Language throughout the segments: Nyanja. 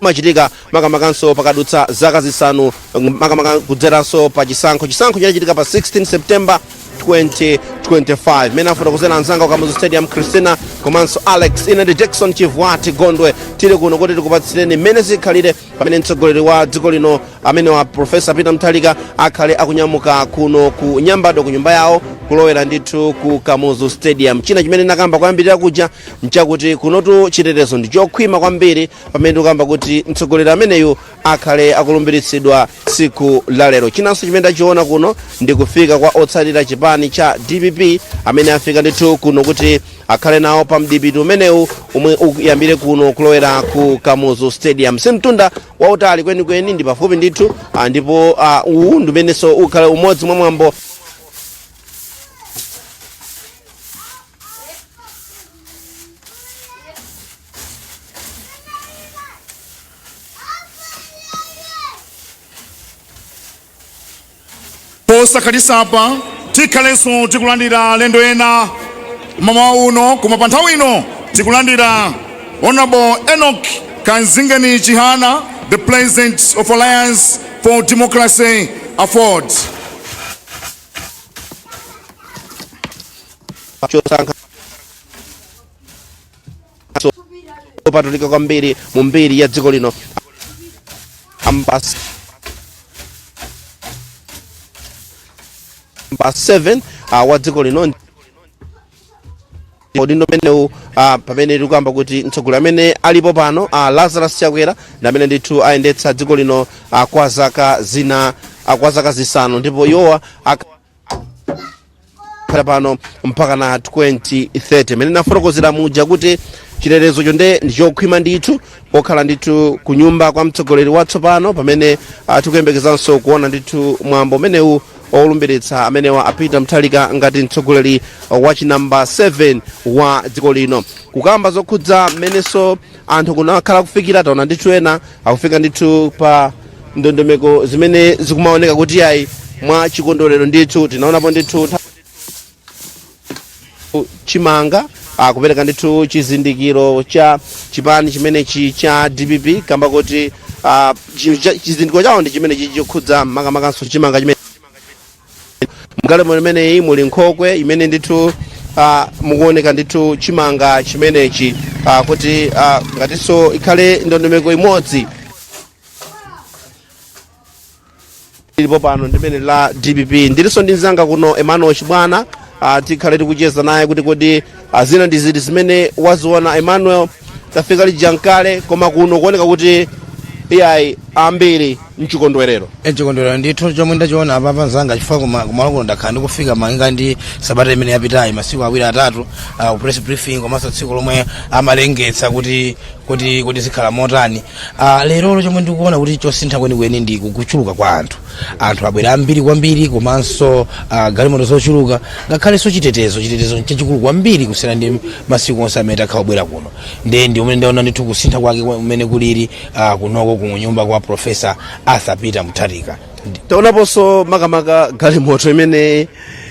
imachitika makamakanso pakadutsa zaka zisanu makamaka kudzeranso pa chisankho chisankho chinachitika pa 16 september 2025 mene afotokozera anzanga ku kamuzu stadium christina komanso alex ine ndi jackson chivwati gondwe tili kuno kuti tikupatsireni mmene zikhalire pamene mtsogoleri wa dziko lino amene wa profesa peter mutharika akhale akunyamuka kuno ku nyambadwe ku nyumba yawo kulowera ndithu ku kamuzu stadium china chimene nakamba kuyambirira kuja nchakuti kunotu chitetezo ndi chokhwima kwambiri pamene ndikukamba kuti mtsogoleri ameneyu akhale akulumbiritsidwa tsiku la lero chinanso chimene ndachiona kuno ndi kufika kwa otsatira chipani cha dpp amene afika ndithu kuno kuti akhale nawo pa mdipiti umenewu umwe uyambire kuno kulowera ku kamuzu stadium si mtunda wautali kwenikweni ndi pafupi ndithu ah, ndipo ah, uwu ndi umeneso ukhale umodzi mwa mwambo posakhalitsapa tikhalenso tikulandira alendo ena mmawa uno koma pa nthawi ino tikulandira honorable enoch kamzingeni chihana the president of alliance for democracy aford opatulika kwambiri mu mbiri ya dziko lino namba 7 uh, wa dziko lino udindo umenewu uh, pamene tikuyamba kuti mtsogoleri amene alipo pano uh, lazarus chakwera ndi amene ndithu ayendetsa dziko lino uh, kwa zaka zina uh, kwa zaka zisanu ndipo iwowa ak- khala pano mpaka na 2030 mene nafotokozera muja kuti chitetezo chonde ndichokhwima ndithu kokhala ndithu ku nyumba kwa mtsogoleri watsopano pamene ah, tikuyembekezanso kuona ndithu mwambo umenewu olumbiritsa amenewa a peter mutharika ngati mtsogoleri wa chinamba 7 wa dziko lino kukamba zokhudza mmenenso anthu kuno akhala kufikira taona ndithu ena akufika ndithu pa ndondomeko zimene zikumaoneka kuti ayi mwa chikondwerero ndithu tinaonapo ndithu ntha- chimanga akupereka ndithu chizindikiro cha chipani chimenechi cha dpp kamba kuti ah, chi- cha- chizindikiro chawo ndi chimenechi chokhudza makamakanso chimanga chimene mgalimoto imeneyi muli nkhokwe imene ndithu ah, mukuoneka ndithu chimanga chimenechi ah, kuti ah, ngatinso ikhale ndondomeko imodzi ilipo pano imeneyi ya dpp ndilinso ndi mzanga kuno emmanuel chibwana ah, tikhale tikucheza naye kuti kodi zina ndi ziti zimene waziona emmanuel tafika lija ndi kale koma kuno kuoneka kuti iyayi ambiri mchikondwerero mchikondwerero ndithu chomwe ndachiona apapa mzanga chifukwa kuma- kumalo kuno ndakhala ndikufika malinga ndi sabata imene yapitayi masiku awiri atatu ah, ku press briefing komanso tsiku lomwe amalengetsa kuti kuti kuti zikhala motani Ah, lerolo chomwe ndikuona kuti chosintha kwenikweni ndi kuchuluka kwa anthu anthu abwera ambiri kwambiri komanso uh, galimoto zochuluka ngakhalenso chitetezo chitetezo chachikulu kwambiri kusiyana ndi masiku onse amene takhala tikubwera kuno nde ndi mmene ndaona ndithu kusintha kwake kwa- mmene kulili uh, kunoko ku nyumba kwa profesa arthur peter mutharika taonaponso makamaka galimoto imene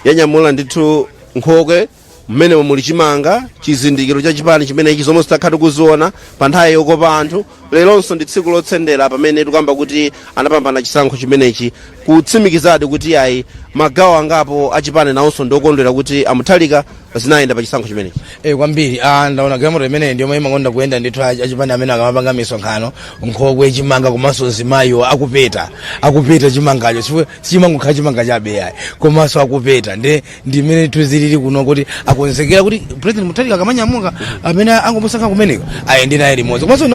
yanyamula ndithu nkhokwe mmenemo muli chimanga chizindikiro cha chipani chimenechi zomwezi takhala tikuziona pa nthawi yokopa anthu leronso ndi tsiku lotsendera pamene tikuyamba kuti anapambana chisankho chimenechi kutsimikizadi kuti ayi magawo angapo achipani nawonso ndiokondwera kuti a mutharika zinayenda pa chisankho chimenechi Eh, kwambiri ah, ndaona galimoto imeneyi ndiyo imene imakonda kuyenda ndithu achi- achipani amene akamapanga misonkhano nkhokwe chimanga komanso mzimayiwo akupeta akupeta chimangacho chifukwa sichimangokhala chimanga chabe ayi komanso akupeta ndi ndi mmene zilili kuno kuti akonzekera kuti president mutharika akamanyamuka amene angomusankha kumenewo ayende naye limodzi komanso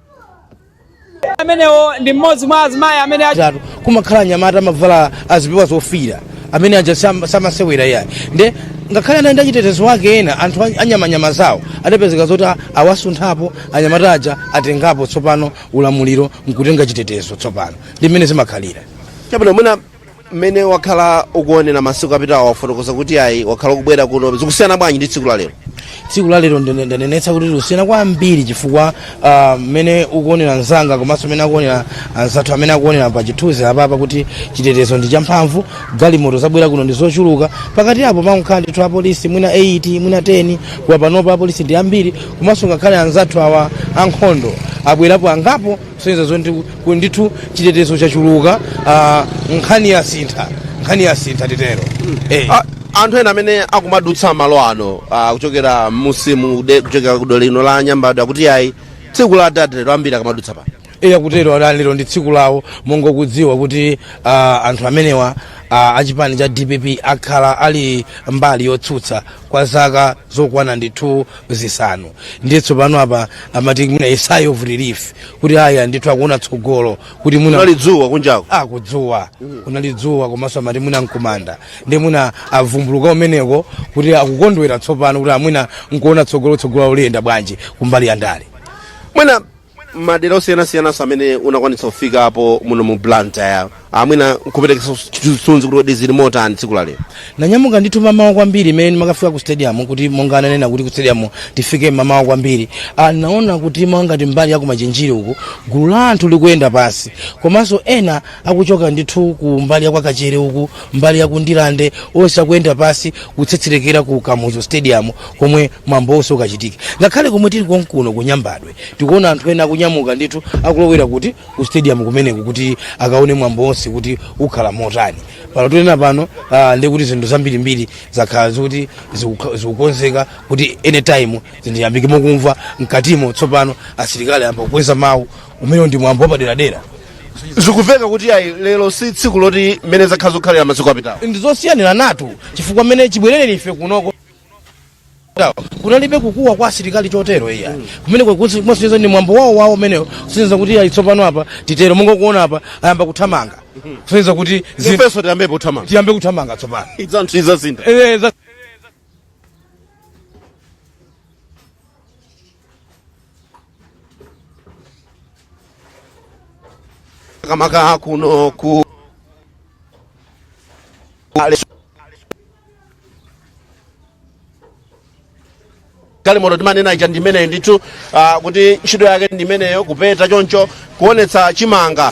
amenewo ndi mmodzi mwa azimayi amene a- zatu kumakhala anyamata amavala azipewa zofira amene aja sam- samasewera iyayi nde ngakhale anali ndi achitetezo wake ena anthu a- anyamata zawo adapezeka zoti a- awasunthapo anyamata aja atengapo tsopano ulamuliro nkutenga chitetezo tsopano ndi mmene zimakhalira chabwino mwina mmene wakhala ukuonera masiku apitawa wafotokoza kuti ayi wakhala ukubwera kuno zikusiyana bwanji ndi tsiku la lero tsiku la lero ndine- ndanenetsa kuti likusiyana kwambiri chifukwa ah, mmene ukuonera mzanga komanso mmene akuonera anzathu amene akuonera pa chithunzi apapa kuti chitetezo ndi champhamvu galimoto zabwera kuno ndi zochuluka pakati apo pamakhala ndithu apolisi mwina 8 mwina 10 koma panopa apolisi ndi ambiri komanso ngakhale anzathu awa ankhondo abwerapo angapo kusonyeza zoti ku- ndithu chitetezo chachuluka ah, nkhani yasintha nkhani yasintha titero Eh. A- anthu ena amene akumadutsa malo ano ah, kuchokera mumsewu kude- kuchokera kudera lino la nyambadwe akuti ayi tsiku la atate lero ambiri akamadutsa pano eya akutero adadi lero ndi tsiku lawo monga kudziwa kuti ah, anthu amenewa ah, achipani cha dpp akhala ali mbali yotsutsa kwa zaka zokwana ndithu zisanu ndiye tsopano apa amati mwina a sigh of relief kuti aya ndithu akuona tsogolo kuti mwina kunali dzuwa kunjako ah kudzuwa kunali dzuwa komanso amati mwina mkumanda ndiye mwina avumbuluka kumeneko kuti akukondwera tsopano kuti amwina nkuona tsogolo tsogolo liyenda bwanji kumbali ya ndale mwina madera osiyanasiyananso amene unakwanitsa kufikapo muno mu blantyre amwina nkuperekanso chithunzi kuti kodi zili motani tsiku la lero ndinanyamuka ndithu mamawa kwambiri mmene ndimakafika ku stadium kuti monga ananena kuti ku stadium tifike mamawa kwambiri Ah, ndinaona kuti monga ngati mbali ya kumachinjiri uku gulu la anthu likuyenda pansi komanso ena akuchoka ndithu ku mbali ya kwa kachere uku mbali ya ku ndirande onse akuyenda pansi kutsetserekera ku kamuzu stadium komwe mwambo wonse ukachitike ngakhale komwe tili konkuno kunyambadwe Tikuona anthu ena akunyamuka ndithu akulowera kuti? Ku stadium kumeneko kuti akaone mwambo wonse kuti ukhala motani. Pano tinena pano, ah, ndiye kuti zinthu zambirimbiri zakhala zikuti zikukha- zikukonzeka kuti anytime zinthu ziyambike mokumva mkatimo tsopano asilikali ayamba kukweza mawu umenewo ndi mwambo wapaderadera zikumveka kuti ayi lero si tsiku loti mmene zakhala zikukhalira masiku apitawo ndizosiyaniranatu chifukwa mmene chibwerere ife kunoko kunalibe kukuwa kwa asilikali chotero ayi kumene kumasonyeza ndi mwambo wawo wawo umenewo kusonyeza kuti ayi tsopano apa titero monga kuona apa ayamba kuthamanga kusonyeza kuti zinthu- ifenso tiyambepo thamanga tiyambe kuthamanga tsopano idzanthu izazinda Eh, za- makamaka kuno ku galimoto timanena ija ndimeneyo ndithu ah, kuti ntchito yake ndimeneyo kupeta choncho kuonetsa chimanga